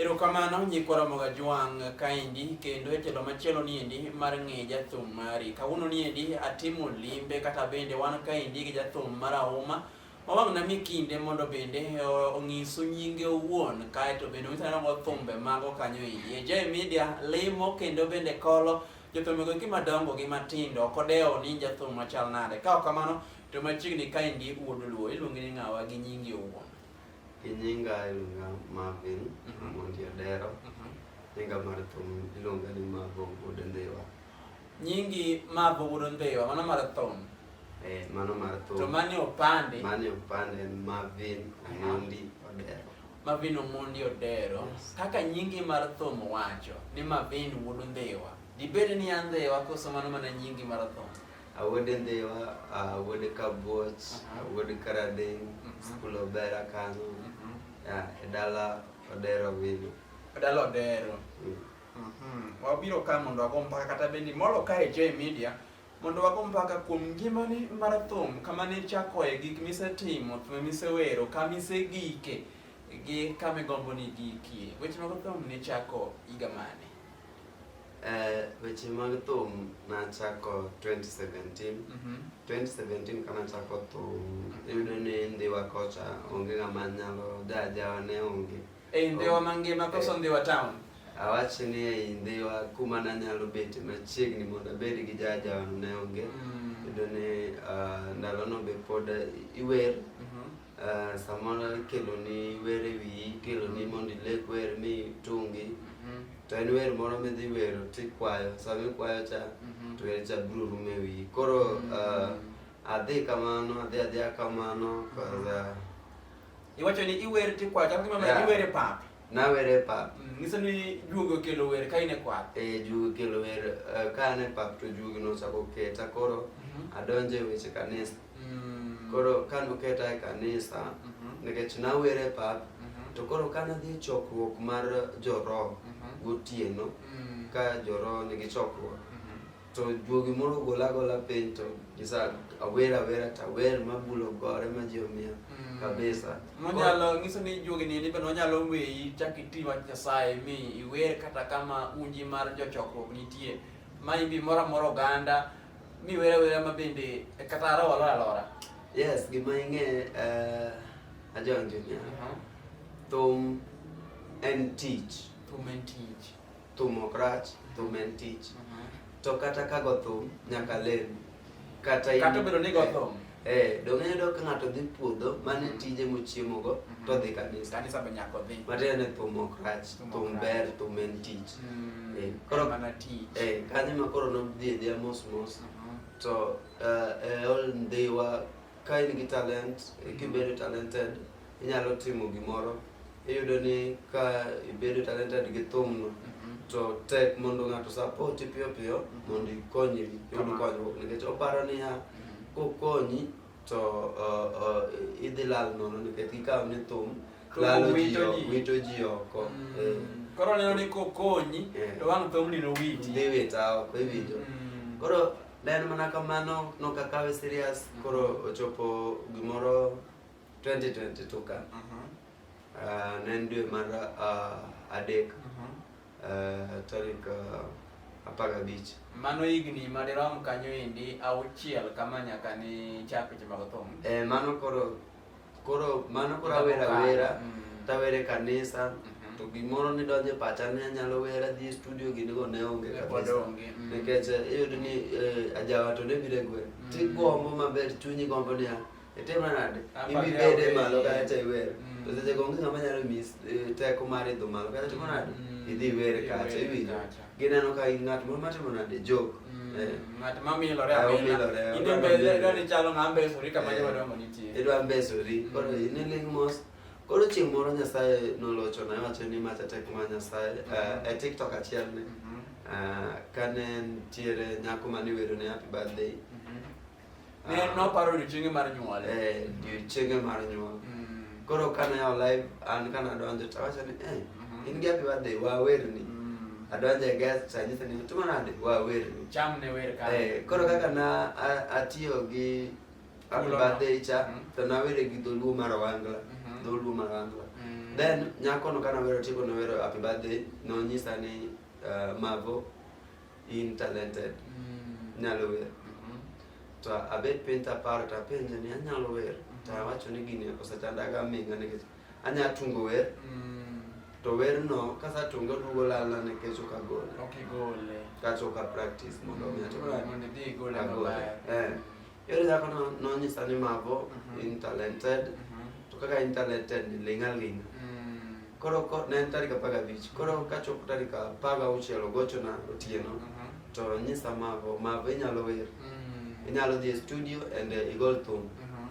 Erokamano nyikwa Ramoga Jwang' kaendi kendo e telo machielo niendi mar ng'e jathum mari. Kawuono niendi atimo limbe kata bende wan kaendi gi jathum mar Auma mawang'na mi kinde mondo bende eh, ong'isu nyinge owuon kaeto bende onyisa nogo thumbe mago kanyo endi. E Jay Media limo kendo bende kolo jothumego gi madongo gi matindo ok odewo ni jathum machal nade. Ka ok kamano to machiegni kaendi wuod Luo iluongi ni ng'awa gi nyingi owuon. Nyinga iluonga Marvin Mhm. Mondi Adero. Mhm. Nyinga mar thum iluonga ni Mavo Wuod Ndhiwa. Nyingi Mavo Wuod Ndhiwa, mano mar thum. Eh, mano mar thum. To mane opande? Mane opande en Marvin Mondi Odero. Marvin Omondi Odero. Yes. Kaka nyingi mar thum wacho ni Marvin Wuod Ndhiwa. Dibed ni an Ndhiwa koso mano mana nyingi mar thum? Awuode Ndhiwa, awuode Kabuoch, awuode Karading, mhm. skul Obera kanyo, mhm. e dala Odero Vilo. E dala Odero. Mm. Mhm. Wabiro ka mondo wago mpaka kata bendi molo ka e J Media mondo wago mpaka kuom ngimani mar thum kama ne chakoe gik misetimo, thum misewero, kama isegike gi kama igombo ni gikie. Weche mag thum ne chako higa mane? Eh, weche mag thum nachako 2017 Mhm. 2017 ka nachako thum iyudo ni ndhiwa kocha onge ng'ama nyalo jajawa ne onge Ei Ndhiwa mangima koso Ndhiwa town? awachi ni ei ndhiwa kuma nanyalo bete machiegni mondo abed gi jajawa ne onge Mm. iyudo ni ah, ndalono be pod iwer Mhm. Uh, samoro ikelo ni wer e wiyi ikelo ni mondo ilek wer mi tungi mhm. to en wer moro midhi wero tikwayo sama ikwayo cha mhm. to wer cha biro rumo e wiyi koro mhm. uh, adhi kamano adhi adhiya kamano kaza iwacho ni iwer tikwayo chal gima yeah. iwer e pap nawer e pap mm, nyiso ni juogi okelo wer ka in e kwath e eh, juogi okelo wer uh, ka an e pap to juogi nochako keta koro adonjo e weche kanisa Mm. Koro kane oketa e kanisa mm -hmm. nikech nawere pap mm -hmm. to koro kane adhi e chokruok mar joroho mm -hmm. gotieno mm. ka joroho nigi chokruok mm -hmm. to juogi moro gola gola piny to gisa awer awera to awer mabulo gore ma ji omiya mm. kabisa nonyalo nyiso ni juogi nini bende onyalo weyi chak iti wach nyasaye mi iwer kata kama unji mar jochokruok nitie ma imbi moro amora oganda Mi wera wera ma bende e kata arawa alora alora. Yes, gima ing'e uh, Ajang Junior. Uh -huh. Thum en tich. Thum en tich. Thum ok rach, thum en tich. Uh -huh. To kata ka go thum nyaka lem. Kata in, kata bedo ni go thum. Eh, donge yudo ka ng'ato dhi puodho mane mm-hmm. tije mochiemogo mm-hmm. to dhi kanisa. Kanisa be nyako dhi. Matiende ni thum ok rach, thum ber, thum en tich. Mm, eh, koro mana tich. Eh, kanyo ma koro nodhi edhiya mos mos. Mm-hmm. To eh, eh, ol ndhiwa ka in gi talent, eh, kibedo talented, inyalo timo gimoro iyudo ni ka ibedo talented gi thumno mhm. to tek mondo ng'ato sapoti piyo piyo mhm. mondo ikonyi yud konyruok nikech oparo niya mhm. kokonyi to idhi lal nono nikech gikawo ni thum lalo ji wito ji oko mm. eh. koro neno ni kokonyi eh. to wang' thumni nowiti dhi wita oko iwinjo mm. koro ne en mana kamano nokakawe serious koro ochopo gimoro 2022 ka mhm. ah, ne en dwe mar ah, adek mhm. ah, tarik apar gabich mano higni madirom kanyo endi auchiel kama nyaka ni chak weche mag thum eh, mano koro koro mano koro awera wera mm. tawere kanisa mhm. to gimoro nidonje pacha ni anyalo wera dhi studio ginigo ne onge kabisa mm. nikech eh, iyudo ni eh, ajawa to ne bire gwen mm. tigombo maber chunyi gombo niya Etema nade? Ibibede malo kata cha iwer. Mm. To seche gonge ng'ama nyalo mis eh, teko mar idho malo kata timo nade? Mm. Idhi iwer kacha iwinjo. Gineno ka in ng'at moro matimo nade jok. Mm. Eh. Ng'at ma milore amila. Inde mbele ndo ni chalo ng'a mbesori kama eh. jwa domo nitie. Idwa mbesori. Koro ine ling mos. Koro chieng' moro Nyasaye nolocho na wacho ni macha tek ma Nyasaye mm-hmm. e TikTok achiel ni. Mm-hmm. Ah, kane ntiere nyako mane wero ne happy birthday. Mm-hmm. Ne ah. noparo odiochienge mar nyuol. Eh, odiochienge mar nyuol. Mm. Koro kane yawo live an kana adonjo to awacho ni eh mm-hmm. in gi happy birthday wawerni. Mm. Adonjo e guest to anyise ni timo nade wawerni. Cham ne wer ka. Eh, koro kaka na atiyo gi happy birthday cha mm. to nawere gi dholuo mar Wangla. Mm-hmm. Dholuo mar Wangla. Mm. Then nyako no kana wero tieko no wero happy birthday no nyisa ni eh, mavo in talented mm. nyalo wer mm-hmm. to abet piny taparo tapenje ni anyalo wer mm-hmm. tawacho ni gini osechandaga minga nikech anya tungo wer mm. to werno kasatunge odugo lalna nikech ok agole kata ok apractice mondo mi atimagole eh. Yore dhako no nonyisa ni mavo Mhm. in talented Mhm. to kaka in talented ni ling' aling'. Mm. Koro ko- ne en tarik apar gabich koro kachopo tarik apar gauchiel ogochona otieno Mhm. to nyisa mavo mavo inyalo wer Mm. inyalo dhi e studio and eh, igol thum Mhm.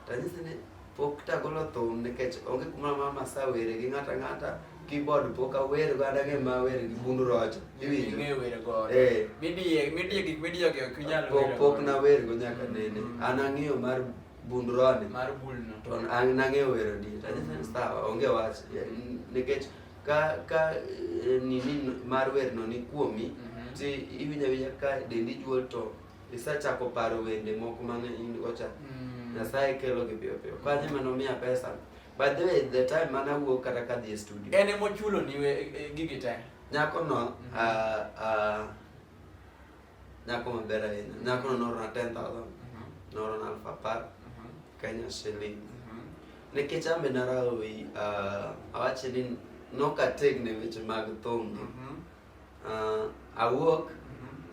tanyise ni Pok tagolo thum nikech onge kuma mama sa were gi ng'ata ng'ata keyboard pok awer go adage ma wer gi bundu rocho iwinjo ng'e wer go eh midie midie gik midie go ok nyal wer pok pok na wer go nyaka mm. nene an ang'eyo mar bundu rone mar bulno to an nang'eyo wer di ta jana sawa onge wach nikech ka ka eh, nini mar wer no ni kuomi mm-hmm. ti iwinja winja ka dendi juol to Isachako paro wende moko mane in ocha. Mm. Nyasaye kelo gi piyo piyo. Kwa nyima nomiya pesa. By the way, the time mana wuok kata ka dhi e studio. En emo chulo ni e, e, gigi te. Nyako no, mm-hmm. a, a, nyako maber ahinya. Nyako no norona 10,000. Mm-hmm. Norona alfa apar. Mm-hmm. Kenya shilling. Nikech ambe narawi, awache ni nokategni weche mag thum. awuok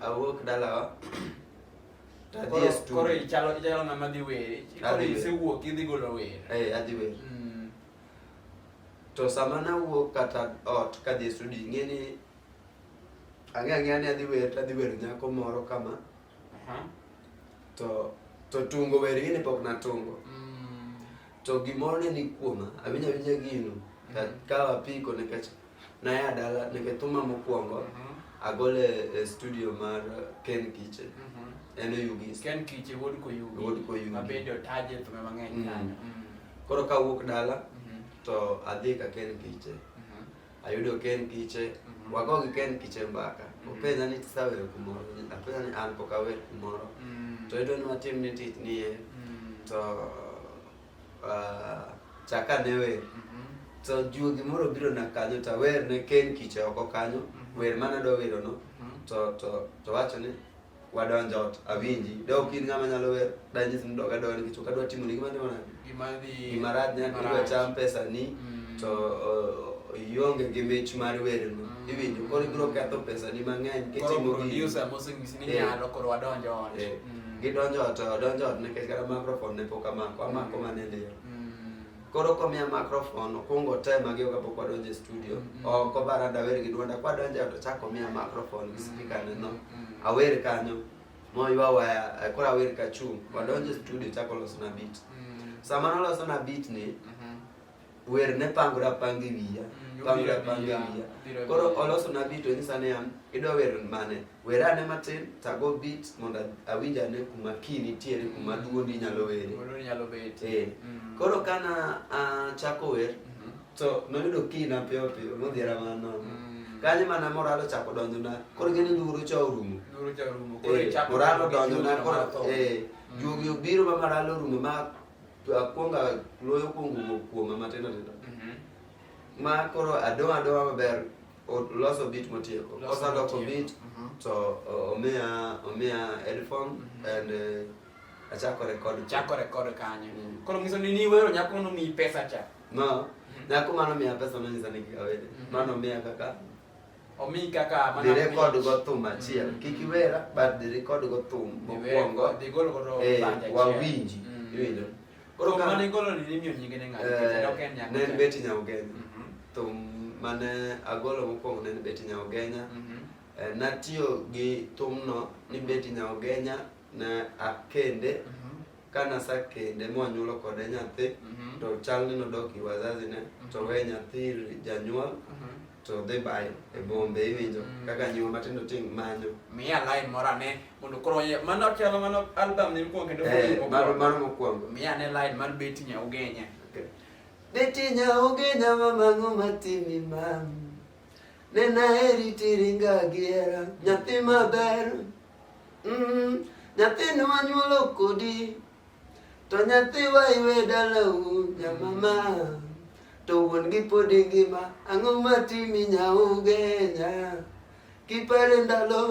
awuok dalawa koro ichalo ichalo ng'ama dhi wer koro isewuok idhi golo wer eh adhi wer mm. to sama nawuok kata ot kadhi e studio ing'e ni ang'e ang'eya ni adhi wer tadhi wer nyako moro kama Aha. To to tungo weri ni pok na tungo. Mm. To gimoro ne ni kuoma, abinya binya gino. Mm. Ka kawa piko ne kech na ya dala ne ke tuma mokuongo. Mm -hmm. Agole e studio mar Ken Kiche. Mm -hmm. Eno Yugi. Ken Kiche wod ko Yugi. Wod ko Yugi. Mabende otaje to me mang'eny mm. kanyo. Mm. Koro ka wuok dala mm -hmm. to adhi ka Ken Kiche. Mm. ayudo ka en kiche mhm. wagogi ka en kiche mbaka mhm. openja ni tisaweyo kumoro apenja ni an pok awer kumoro mhm. to idwa ni watim ni tich niye to ah, chaka ne wer to juogi moro biro na kanyo to awer ne ken kiche oko kanyo wer mana dwa werono to to to wacho ni wadonjo ot awinji de ok in ng'ama nyalo wer danyis ni doga doga nikech ok adwa timo ni gima ndimo na gima rach ne adwa cham pesa ni mm. to ionge gi mich mar wer no mm. iwinjo koro ibiro ketho pesa ni mang'eny kitimo gi eh. eh. mm. gidonjo ot odonjo ot nikech kata microphone ne pok amako amako mana e liel koro komiya microphone okwongo tema gi oga pok wadonjo e studio mm, mm. oko bara dawer gi dwonda kwadonjo e to chak omiya microphone gi speaker mm, neno awer kanyo moywa waya eh, koro awer ka chung wadonjo e studio chak olosona beat sama nolosona beat ni mm-hmm. wer ne pangore apange wiya pangore apange wiya koro olosona beat onyisa niya idwa wer mane Werane matin tago bit mondo awinj ane kuma kii nitiere kuma mm. duondi nyalo were. Duondi nyalo bet. Eh. Mm. Koro kana achako wer mm-hmm. to noyudo kii na piyo piyo modhiera mano. Mm. Kanyo mana moralo chako donjo na. Koro gini duro cha orumo. Duro cha orumo. Eh, koro chako moralo donjo na koro eh mm. juogi obiro ma moralo orumo ma akwonga loyo kuongo kuoma matindo tindo. Mm-hmm. Ma koro adowa adowa maber. Loso beat motieko. Osaloko beat mhm. to omiya omiya headphone mhm. and uh, achako record. Chako record kanyo. Mm. Koro ngiso ni niwero nyako no mi pesa cha. No. Mhm. Nyako mano miya pesa no nyisa ni kikawede. Mano miya kaka omi kaka mana dire kod go thum achiel mm. kik iwera but dire kod go thum mokwongo eh, wawinji mm. iwinjo Koro ka mane golo ni nimiyo nyinge ne ng'ato kendo ok en nyaka. Ne en Betty Nyaugenya. Mhm. To mane agolo mokwongo ne en Betty Nyaugenya. Mhm. Eh, natiyo gi thumno ni Betty Nyaugenya ne akende mhm. ka nasakende mwanyuolo kode nyathi to chal ni nodok gi wazazi ne to we nyathi janyuol to dhi bayo e bombe iwinjo mm. kaka nyuma matindo ting manyo miya line moro ane mondo koro mano chalo mano album ni mokwongo kendo eh, mano mano mokwongo miya ne line mar beti nya ugenya beti nya ugenya mama ngo matimi mam nena heri tiringa giera nyathi maber mm, nyathi nwanyuolo kodi To nyathi wa iwe dalau nyamama To wuon gi pod ngima ang'o matimi nyaugenya Kipare ndalo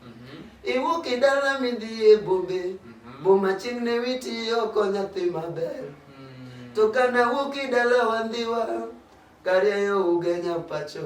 mhm. iwuok e dala midhi e bombe mhm. Boma chieng' ne witi oko nyathi maber mm. To kana wuok e dala wandhiwa Karieyo ugenya pacho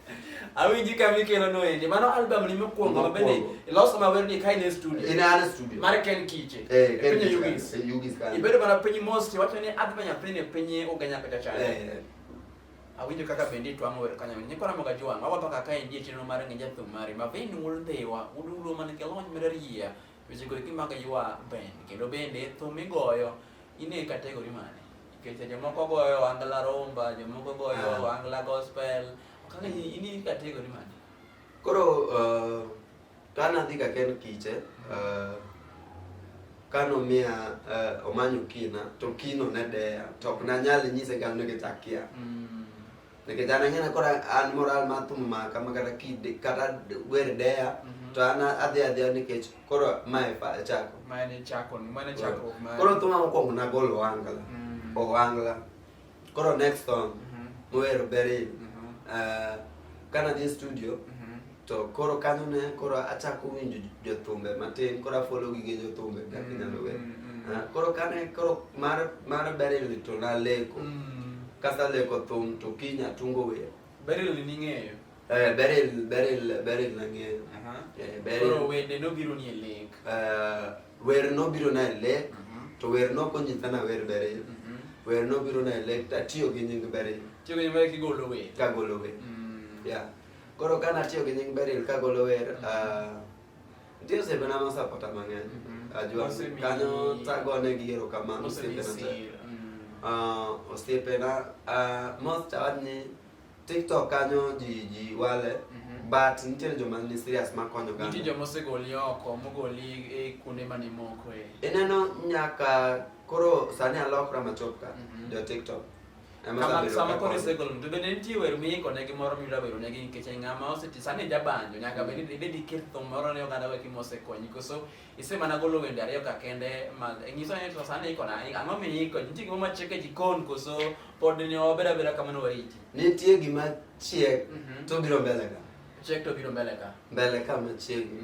Awinji ka mikelo no ende. Mano album ni mokwongo mabende iloso mawer ni kain e studio. In an studio. Mar Ken Kiche. Eh, Ken Kiche. Yugis. Eh, Yugis kan. Ibedo mana piny most wacho ni adwa nyathini e piny uganya kata chana. Eh. Awinjo kaka bende itwang'o wer kanyo. Nyikwa na moga jwang. Awapa kaka endi e chenro mar ng'e jathum mari. Mavin wul dhewa. Udulo man ke lony mar riya. Wechego eki maka ywa Ben, kendo bende thum migoyo in e kategori mane? Nikech jomoko goyo angla rumba, jomoko goyo ah. angla gospel, kaka in e kategori mane? Koro uh, ka nadhi ka ken kiche uh, ka nomiya uh, omanyo kina to kino ne deya to ok nanyal nyise gano gi takia mm. nake jana ngena kora an moral ma tum ma kama kata ki kata wer dea mhm. to ana adhi adhi ni kech kora ma e pa chako ma ne chako ma ne chako ma kora tuma mo ko na gol wangala mhm. o wangala kora next song mo mhm. wer beri eh, kana di studio to koro kanyo ne koro achako winjo jothumbe matin koro afolo gige jothumbe kaka mm, inyalo wer mm, mm. Ah, koro kane koro mar mar berili to naleko kasaleko thum to kiny atungo wer berili ning'eyo Eh, beril beril beril nang'eyo eh, beril koro wende nobiro ni e lek eh, wer nobiro na e lek mhm. to wer nokonyisa na wer beril mhm. wer nobiro na e lek tatiyo gi nying beril tiyo gi nying beril kigolo wer kagolo wer mm. yeah Koro ka natiyo gi nying Beryl kagolo wer, ah, nitie osiepena mosapota mang'eny. Mhm. Ajua Osemi- kanyo tagone gi erokamano osiepena te. Osemisi. Mm. Ah, osiepena ah, most awach ni TikTok kanyo ji ji wale Mhm. but nitiere joma ni serious makonyo Nitie kanyo. joma osegoli oko, mogoli e kuonde mane moko e. Ineno nyaka koro sani alokra machop ka Mhm. jo TikTok. Kama sama koro isegolo to bende nitie wer miiko ne gimoro miyudo wero ne gini nikech ng'ama oseti sani jabanjo nyaka bed ni ibed iket thum moro ne oganda weki mosekonyi koso ise mana golo wende ariyo ka kende ma nyiso ni to sani iko na ang'o miiko nitie gima machiek e jikon koso pod ni obed abeda kamano wariti nitie gima chiek to biro mbele ka chiek to biro mbele ka mbele ka machiegni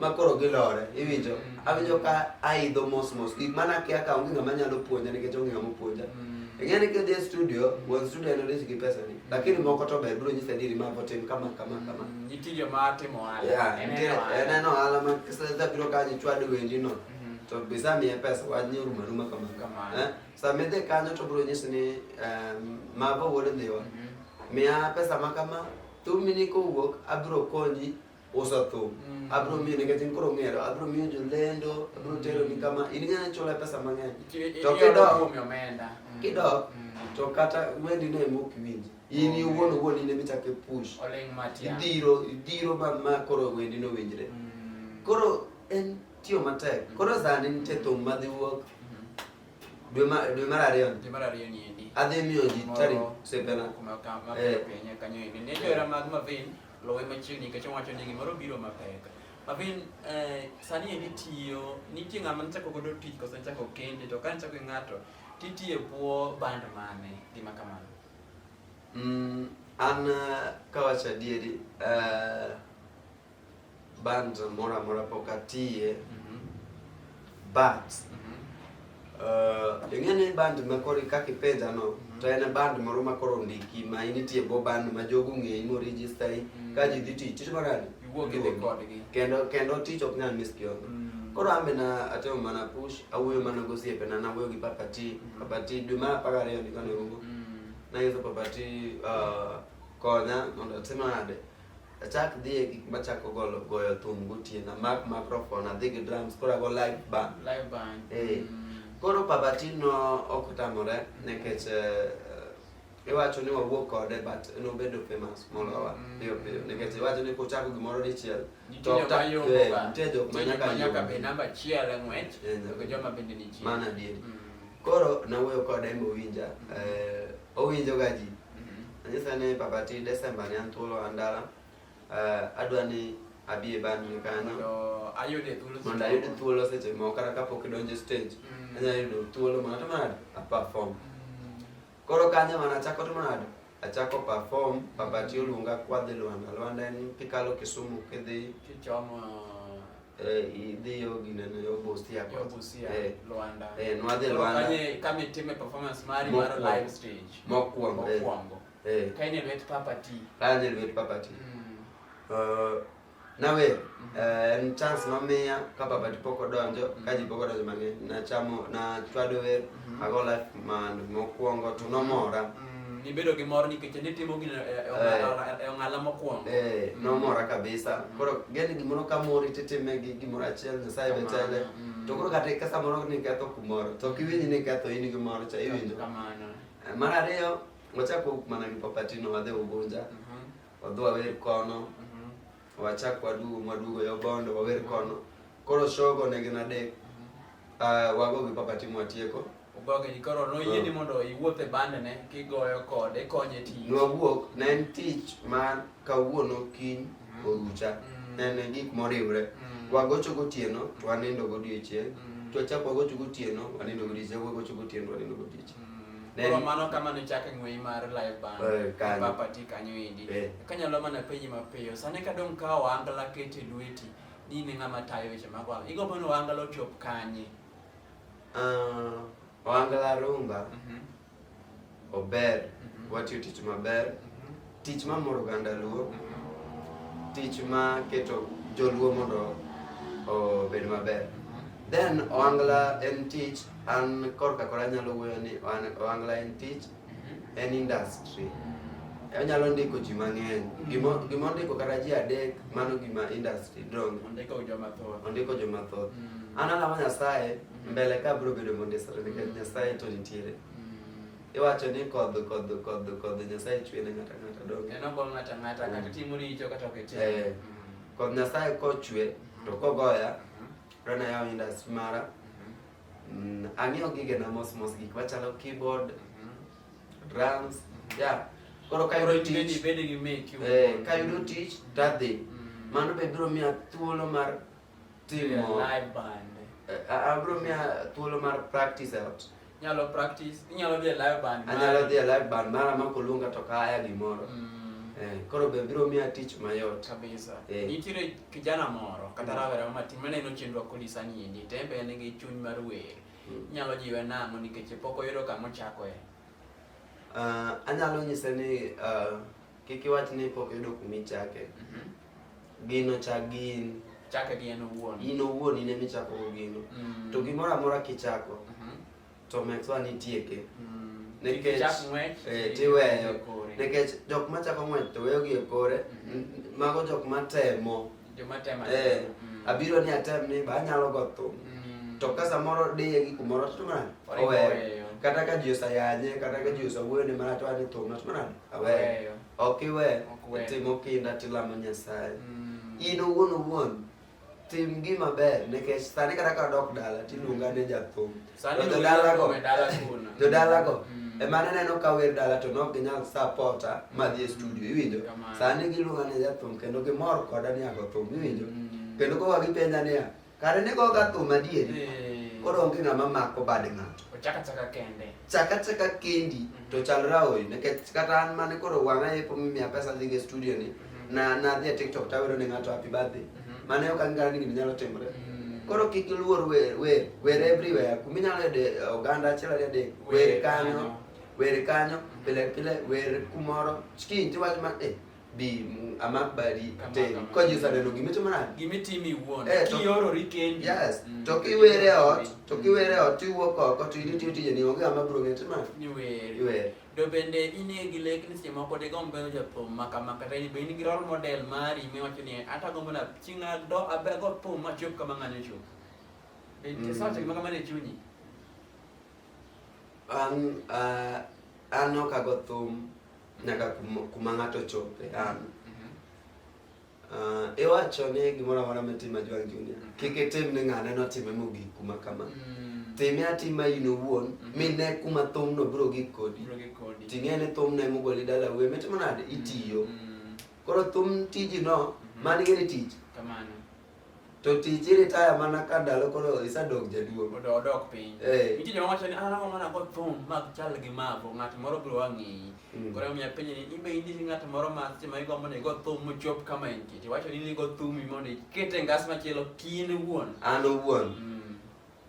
ma koro gilore iwinjo mm. awinjo ka aidho mos mos gik mana akia ka onge ng'ama nyalo puonja nikech onge ng'ama puonja mm. ing'e ni kidhi e studio wuon studio en odich gi pesa ni lakini moko to ber biro nyisa diri mago tim kama kama mm, kama nitiyo ma timo ohala en en ohala ma kiseza biro kanyo chwad wendi no mm-hmm. to bisa miye pesa wach ni oruma ruma kama kama eh? sama idhi kanyo to biro nyisi ni mago wuod dhiwa mm-hmm. miya pesa ma kama thumini kowuok abiro konyi uso thum mm. abro miyo nikech in koro ng'ero abro miyo jolendo abro mm. tero ni kama in ng'ana chula pesa mang'eny to kidok mm. kidok mm. to kata wendi ne mok winj in okay. iwuon owuon in emichak e push idhiro idhiro ma, ma koro wendi no winjre mm. koro en tiyo matek mm. koro sani nitie thum madhi wuok dwe mar ariyo adhi miyo ji tarik sepena Lowe machiegni kacha wacho ni gimoro biro mapek. Avin eh, sani eni tiyo nitie ng'ama nichako godo tich kose nichako kende to ka nichako ng'ato titiye bwo band mane gima kamano. Mm, an eh, kawacho adieri eh, band moro amora pok atiye mhm. but mhm. uh, ing'e ni band makoro kaka ipenja no mhm. to en band moro makoro ndiki ma in itiye go band ma jogo ng'eyi moregistayi ka ji dhi tich tich maradi kendo kendo tich ok nyal miss kiodo koro ambe na atimo mana push awuoyo mana gosiepe na nawuoyo gi papati papati dwe mar apar ariyo ndikane ugo nanyiso papati uh, konya mondo atim nade achak dhi e gik machako golo goyo thum gotieno amak microphone adhi gi drums koro ago live band live band eh mm. koro pabatino ok otamore nekech eh, iwacho ni wawuok kode but nobedo famous molowa mm. piyo piyo nikech iwacho ni kuchako gimoro dichiel to nitie jok manyaka be namba achiel e ng'wech eh, to joma bende nitie mana adier mm. koro nawuoyo kode mowinja eh, owinjoga ji Anyisa ni papati Desemba ni an thuolo an dala. Eh, adwa ni abi e band ni kanyo. Mondo ayude thuolo. Mondo ayude thuolo seche moko kata kapok idonjo e stage. Mm. Anyalo yudo thuolo mondo atimo nade? A perform. Mm. Koro kanyo mana achako timo nade? Achako perform, papati oluonga kwadhi Luanda. Luanda en kikalo Kisumu kidhi kichomo Eh, idhi yo ginene yo Busia kwa. Yo Busia, eh, Luanda. Eh, nwadhi Luanda. Kanye kama itime performance mari mar live stage. Mokwongo. Eh. Mokwongo. Eh. Kaine lwet Papa T. Kaine lwet Papa T. Mm. Uh, nawe mm-hmm. eh, en chance nomiya ka Papa T pok odonjo mm-hmm. ka ji pok odonjo mang'eny nachamo nachwado wer Mm. Ago life man mokwongo to nomora. Mm. Nibedo gi mor nikech nitimo gino e, e, e, e ong'ala mokwongo. Eh, mm. nomora kabisa. Mm. Koro gene gimoro ka mori titime gi gimoro achiel Nyasaye be chale. Mm. To koro kata ka samoro ni ketho kumoro to kiwinji ni ketho in gi mor cha iwinjo. Kamano. Eh, mar ariyo wachako mana gi Papatino wadhi Ugunja. Mm -hmm. Wadhi wawer kono. Mm -hmm. wachak wadugo mwadugo yo bondo wawer kono koro shogo ne gin adek uh, wago gi papa timo atieko ogoge ni koro noyie ni mondo iwuoth e bandene kigoyo kode konye tich nwawuok ne en tich ma kawuono kiny mm. orucha mm. ne en gik moriwre mm. wagocho gotieno to wanindo godiechieng' to wachak wagocho gotieno wanindo godiechieng' wagocho gotieno wanindo godiechieng' Then, Koro mano kama nochak ng'wei mar live band Eh, kanyo. papati kanyo endi Eh. kanyalo mana penji mapiyo sani ka dong' kawo angla kete lweti ni ne ng'ama tayo weche mag wang igombo ni wangala ochop kanye ah, Wangala Runga Mhm, ober, mhm, watiyo tich maber, mhm. Tich ma moro oganda Luo, tich ma keto joluo mondo obed maber. Then Oangla en tich, an korka kora anyalo wuoyo ni Oangla en tich, mhm. en industry. Mm. onyalo ndiko ji mang'eny mm. gima ondiko kata ji adek mano gima industry dong ondiko jomathoth mm. an alama nyasaye mm. mbele ka biro bedo mondisore nikech nyasaye to nitiere iwacho ni kodh kodh kodh kodh nyasaye chwe ne ng'ata ng'ata donge en ogo ng'ata ng'ata kata mm. timo richo kata ok itim eh, mm. kodh nyasaye kochwe to mm. kogoya rana yawo industry mara mm-hmm. ang'eyo gigena mos mos gik machalo keyboard mm-hmm. drums mm-hmm. ya koro kayudo tich eh, kayudo tich tadhi mano be biro miya thuolo mar Till yeah, more. live band. Uh, eh, eh, abro ah, mia thuolo mar practice e ot. Nyalo practice, inyalo dhi e live band. Anyalo dhi e live band mara ma koluonga to kaya gimoro. Mm. Eh, koro be biro miya tich mayot kabisa. Eh. Nitiere kijana moro kata mm. rawera ma tin maneno chenro kolisa ni endi tembe en gi chuny mar wer. Mm. Nyalo jiwe nang'o nikech pok oyudo kama ochakoe. Uh, eh. ah, anyalo nyise ni uh, Kik iwach ni pok yudo kuma ichake. Mhm. Gino chak gi in. Chake gi en owuon. In owuon in ema ichako go gino. Mm. To gimoro amora kichako Mhm. to make sure ni itieke. Mm. Nikech- Ichak ng'wech, eh, i- tiweyo. i- kore. Nikech jok ma chako ng'wech to weyogi e kore, Mhm. n- mago jok ma temo. Joma temo. Eh, Mm. abiro ni atem ni ba anyalo go thum. Mm. To ka samoro diye gi kumoro to mana Oringo oweyo. weyo. Kata ka ji osayanye, kata ka ji osawuoyo ni mana to ani thum, to mana aweyo ok iwe timo kinda tilamo nyasaye mm. in owuon owuon tim gima ber nikech sani kata ka dok dala tiluonga ne jathum jodalago mm. ema naneno ka wer dala to nok ginyal sapota madhi e studio iwinjo sani giluonga ne jathum kendo gimor koda ni ago thum iwinjo mm. kendo koka gipenja niya Kare ne go ga thum adier. Eh. Koro onge ng'ama mako bad ng'ato. Ochaka chaka kende. Chaka chaka kendi mm -hmm. to chal raoi nikech kata an mane koro wang'a yepo mimiya pesa dhi e studio ni mm -hmm. na na dhi e TikTok tawero ne ng'ato happy birthday. Mm -hmm. Mane ok ang'eyo ni gini nyalo timore. Mm -hmm. Koro kik iluor wer wer wer everywhere. Kuma inyalo yude eh, oganda achiel ariyo adek wer kanyo wer kanyo pile pile wer kumoro chiki tiwach ma eh bi amak bari ateri ko Jesu aneno gima itimo nade gima itimo iwuon eh, kiyorori kendi yes mm. to kiwere ot to kiwere ot tiwuok oko to idhi tiyo tijeni onge ng'ama biro ng'eyo timo nade iwere do bende in e gi lek ni seche moko de gombo bedo jathum maka maka tani be in gi role model mari miwacho ni ata gombo na chieng' do abego thum machop kama ng'ane chop be nitie mm. sawacho gima kamano e chunyi an uh, an ok ago thum nyaka kuma ng'ato chope an Uh, iwacho ni gimoro amora mitim Ajwang' Junior mm. kik itim ni ng'ane notime mogik kuma kama mm. time atima in owuon mm. mine kuma thumno biro gik kodi ting'e ni thumno emogoli dala wuye mitimo nade itiyo koro thum tijino mm-hmm. mani gini tich To tich iritaya mana ka ndalo koro isadok jaduong'. Mondo odok piny. Eh. Nitie joma wacho ni an ang'o mana kod thum mag chal gi mago ng'at moro biro ang'eyi. Mm. Koro omiyo apenjo ni ibe in gi ng'at moro ma seche ma igombo ni igo thum mochop kama entie. To iwacho ni in igo thumi mondo iket e ngas machielo kiin iwuon. An owuon. Mm.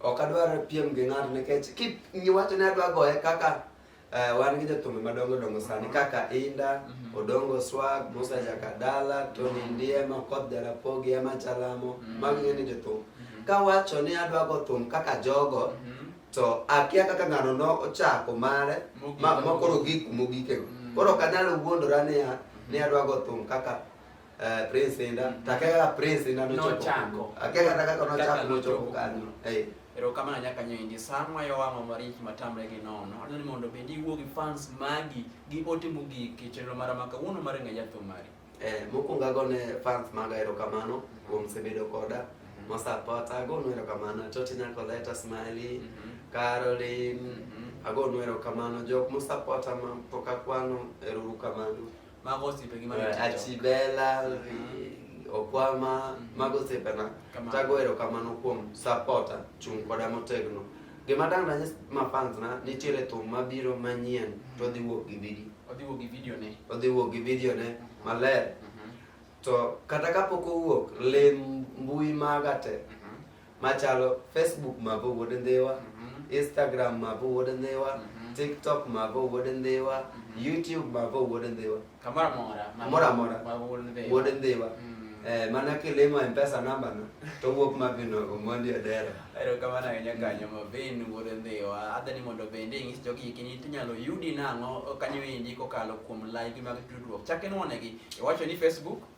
Ok adwar piem gi ng'ato nikech kip iwacho ni adwa goye kaka Uh, wan gi jothumbe madongo dongo sani kaka Inda, mm -hmm. Odongo Swag, Musa Jakadala, Tony Ndiema, Okoth Jarapogi, Emma Chalamo, mm -hmm. magi ng'eni jothum. Mm -hmm. Kawacho ni adwa go thum kaka jogo, mm -hmm. to akia kaka ng'ano no ochako mare, ma, ma koro gik mogikego. Mm -hmm. Koro kanalo wuondora niya, ni adwa go thum kaka Eh, prince enda mm. takega prince enda no chako akega takega no chako no chako kanyo eh ero kama na nyaka nyendi samwa yo wamo mariki matamre gi nono no ni mondo be diwo gi fans magi gi ote mugi ki chenro mara maka wono mare nga yatho mari eh mokuongo ago ne fans maga ero kamano mm-hmm. kuom sebedo koda mm-hmm. mosapota ago no ero kamano toti nyako leta smiley mm-hmm. caroline ago no ero kamano jok mosapota ma poka kwano ero kamano Marcos y Peggy Manuel. Achibela, Okwama, mago osepena. Kamano. Tago erokamano kuom supporter, chung' koda motegno. Gima dang' nanyis mafans na, nitiere thum mabiro manyien to odhi wuok gi video. Odhi wuok gi video ne. Odhi wuok gi video ne maler. Mhm. To kata kapok owuok, lim mbui maga te. Mhm. machalo facebook mavo wuod ndhiwa mhm. instagram mavo wuod ndhiwa mhm. tiktok mavo wuod ndhiwa mhm. youtube mavo wuod ndhiwa kamoro amora wuod ndhiwa Eh, mana kilimo mpesa namba no to wuok mabino omondi odera ero kamano ahinya kanyo mabin wuod ndhiwa adha ni mondo bende ing'is jogi hikini tinyalo yudi nang'o kanyo endi kokalo kuom like mag tudruok chak inwonegi iwacho ni facebook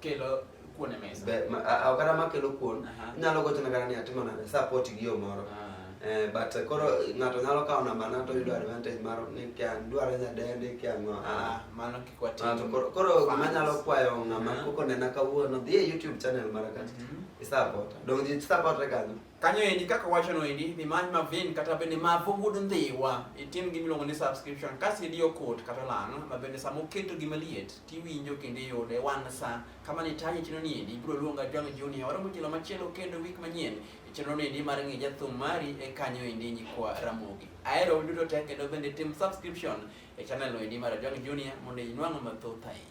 kelo kuon e mesa Be- ma- a- a- kata makelo kuon Aha. inyalo gochone kata ni atimo nade support gi yo moro Ah. Eh, but eh, koro ng'ato nyalo kawo namba na to yudo advantage mar ni kia dwaro nyadendi kia ng'o Ah, mano kik watim Ah, to koro- koro fans. manyalo kwayo ng'ama Aha. koko nena kawuono dhi e youtube channel mara kacha Mhm. isapota donge ji sapotre kanyo kanyo endi kaka wachono endi dhi many mavin kata bende mavo wuod ndhiwa itim gimiluongo ni subscription kasi idiyo kot kata lano ma bende sama oketo gima liet tiwinjo kendo iyude wan sa kama ni taje chino ni endi ibiro luonga John Junior waromo jelo machielo kendo wik manyien chino ni endi mar ng'e jathum mari e kanyo endi nyikwa Ramogi ahero duto te kendo bende tim subscription e channel endi mar John Junior mondo inwang' mathoth ahinya